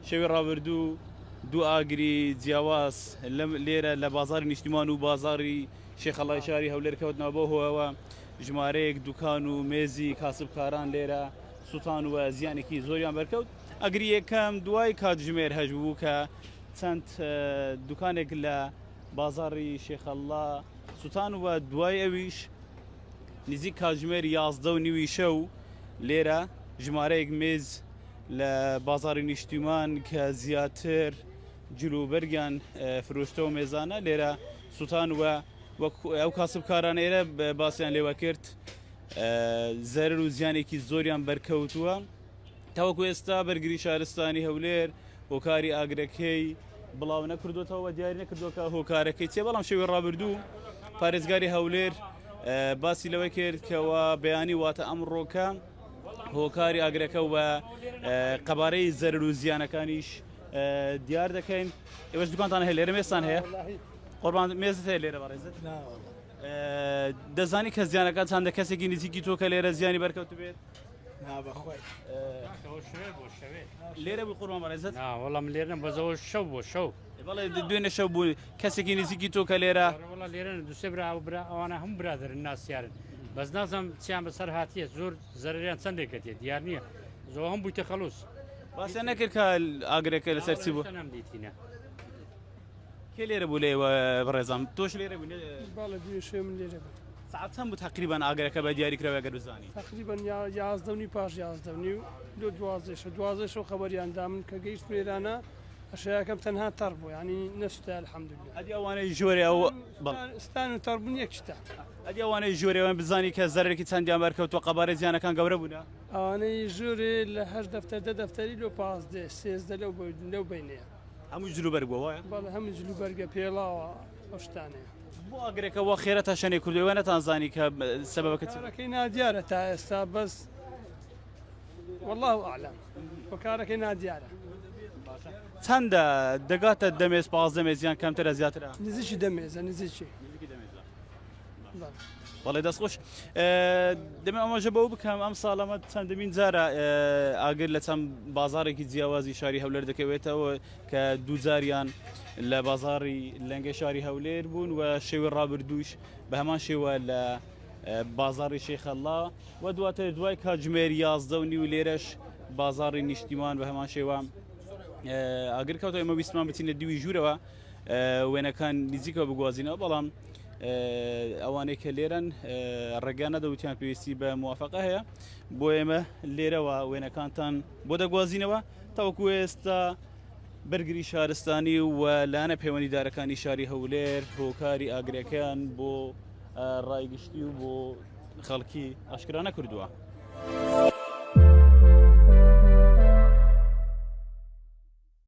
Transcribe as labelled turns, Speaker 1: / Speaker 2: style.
Speaker 1: شەوی ڕابردوو دوو ئاگری جیاواز لێرە لە بازاری نیشتیمان و بازاری شێخەڵای شاری هەولێر کەوتنەوە بۆ هۆەوە ژمارەیەک دوکان و مێزی کاسبکاران لێرە سووتان و زیانێکی زۆریان بەرکەوت ئەگری یەکەم دوای کاتژمێر هەش بوو کە چەند دوکانێک لە بازاری شێخەڵا سووتان و دوای ئەویش نزیک کاتژمێر یازدە و نیوی شەو لێرە ژمارەیەک مێز لە بازاری نیشتیمان کە زیاتر جلوبەرگیان فرۆشتەوە مێزانە لێرە سووتان وە وەک ئەو کاسبکارانەیرە باسییان لێوە کرد زەرر و زیانێکی زۆریان بەرکەوتووە. تاوەکو ئێستا بەرگری شارستانی هەولێر هۆکاری ئاگرەکەی بڵاو نەکردوێتەوە و دیاری نەکردووە کە هۆکارەکەی چێ بەڵام شێوی ڕابردوو پارێزگاری هەولێر باسی لەوەی کرد کەەوە بەیانی واتە ئەم ڕۆکە هۆکاری ئاگرەکە و قەبارەی زەر و زیانەکانیش دیار دەکەین ئێوەش دوکانتان هەیە لێرە مێستان هەیە قۆربان مێزت هەیە لێرە بەڕێزت دەزانی کە زیانەکان چنددە کەسێکی نزیکی تۆکە لێرە زیانی بەرکەوت بێت لێرە بووی قوربان بەڕێزت نا وەڵام لێرە بەزەوە
Speaker 2: شەو بۆ شەو بەڵێ دوێنێ شەو
Speaker 1: بووی کەسێکی نزیکی تۆ کە لێرە وڵا لێرە دوسێ برا
Speaker 2: و برا ئەوانە هەم برادرن ناسیارن بەس نازم چیان بەسەر هاتیە زۆر زەریان چندێکە تێ دیار نییە زۆ هەم بوویتە خەلوس باسە نەکرد
Speaker 1: کە ئاگرەکە لەسەر چی بوو نەم دیتینە کێ لێرە بوو لێ بەڕێزم تۆش لێرە بوو باڵە دوێ شوێ من
Speaker 3: لێرە بوو ساعت چەند بوو تقریبان
Speaker 1: ئاگرەکە بە دیاری کرەوە گەر بزانانی تقریبان یا
Speaker 3: یازدەنی پاش یازدەنی و لۆ دوازێشە دوازێشەوە خەبەریان دامن کە گەیشت مێرانە ئەشەکەم تەنها تەڕ بوو ینی نەستا الحەمدلله ئەدی ئەوانەی ژۆرێ
Speaker 1: ئەو ستان و
Speaker 3: تەڕبوون یەک شتا ئەدی ئەوانەی
Speaker 1: ژۆرێوان بزانی کە زەرێکی چەندیان بەرکەوتوە قەبارە زیانەکان گەورە بوون ئەوانەی ژۆرێ
Speaker 3: لە هەر دەفتەر دە دەفتەری لۆ پازدێ سێزدە لەو لەو بینەیە هەموو جلو بەرگ بووە
Speaker 1: وایە؟ بەڵێ هەموو جلو بەرگە
Speaker 3: پێڵاوە ئەو شتانەیە. بۆ ئاگرەکە وا
Speaker 1: خێرا تا شەنێ کردووە ئێوە نەتانزانی کە سەبەبەکە چی بوو؟ کارەکەی نادیارە
Speaker 3: تا ئێستا بەس واللە ئەعلەم وە کارەکەی نادیارە.
Speaker 1: چەندە دەگاتە دە مێز پازدە مێز یان کەمترە زیاترە؟ نزیکی دە مێزە
Speaker 3: نزیکی.
Speaker 1: بەڵێ دەست خۆش دەمە ئەمەژە بەو بکەم ئەم ساڵەمە چەندمین جارە ئاگر لە چەند بازارێکی جیاوازی شاری هەولەر دەکەوێتەوە کە دووجاریان لە بازاری لەنگە شاری هەولێر بوون و شێوە ڕابردووش بە هەمان شێوە لە بازاری شێخەللا و دواتر دوای کاتژمێر یازدە و نیو لێرەش بازاری نیشتیمان بە هەمان شێوە ئاگر کەوتە ئەمە ویسمان بچینە دیوی ژوورەوە وێنەکان نزیکەوە بگوازینەوە بەڵام ئەوانەی کە لێرەن ڕێگا نەدەوتیان پێویستی بە موواافقە هەیە بۆ ئێمە لێرەوە وێنەکانتان بۆ دەگوازینەوە تاوەکو ئێستا بەرگری شارستانی و لانە پەیوەندیدارەکانی شاری هەولێر هۆکاری ئاگرەکەیان بۆ ڕایگشتی و بۆ خەڵکی ئاشکرانە کردووە.